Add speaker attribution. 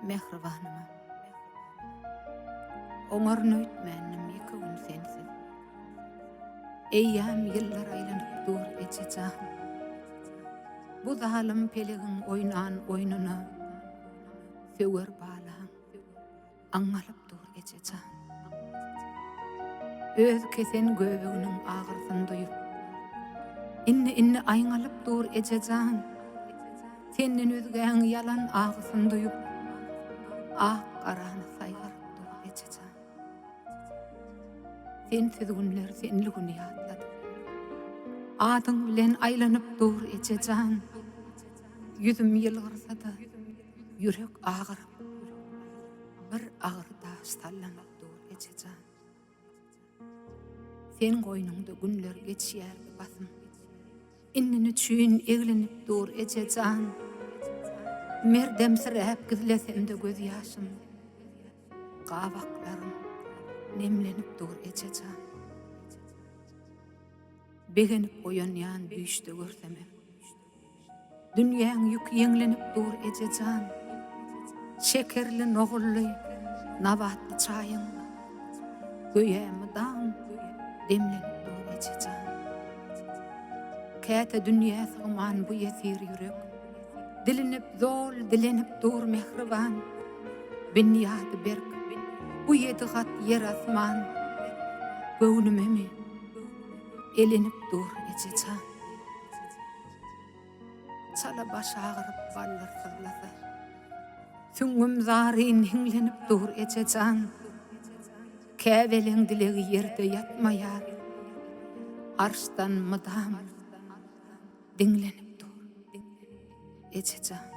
Speaker 1: Mähribanyma Oňaryn öýtmändim ýeke gün sensiz Eýýam ýyllar aýlanyp dur eje jan Bu zalym pelegiň oýnan oýnuna Söwer balaň Aňňalyp dur eje jan. Öz kesen göbeginiň agyrsyny duýup. Indi indi aýňalyp dur eje jan. Senden özgäň ýalan agysyny duýup. Ak garany saýgaryp dur eje jan. Sensiz günler senli güni ýatladyp. Adyň bilen aýlanyp dur eje jan. Ýüzüm ýylgyrsada. Ýürek agyryp, bir agyr daş sallanyp dur, eje jan. Sen goýnuňda günler geçýärdi basym. Indi niçün eglenip dur, eje jan. Merdemsiräp gizlesemde göz ýaşym. Gabaklarym nemlenip dur, eje jan. Begenip oýanýan düýşde görsemem. Dünýäň ýüki ýeňlenip dur eje jan, Şekerli, nogully, nabatly çaýyň. Göýä mydam demlenip dur eje jan. Käte dünýä sygman bu ýesir ýürek, Dilinip, zol dilenip dur mähriban. Binýady berk bu ýedi gat ýer asman, Göwnümemi elenip dur eje jan. Çala baş agyryp ballar syzlasa. Süňňüm zaryn hiňlenip dur eje jan. Käbeliň dilegi ýerde ýatmaýar. Arşdan mydam diňlenip dur eje jan.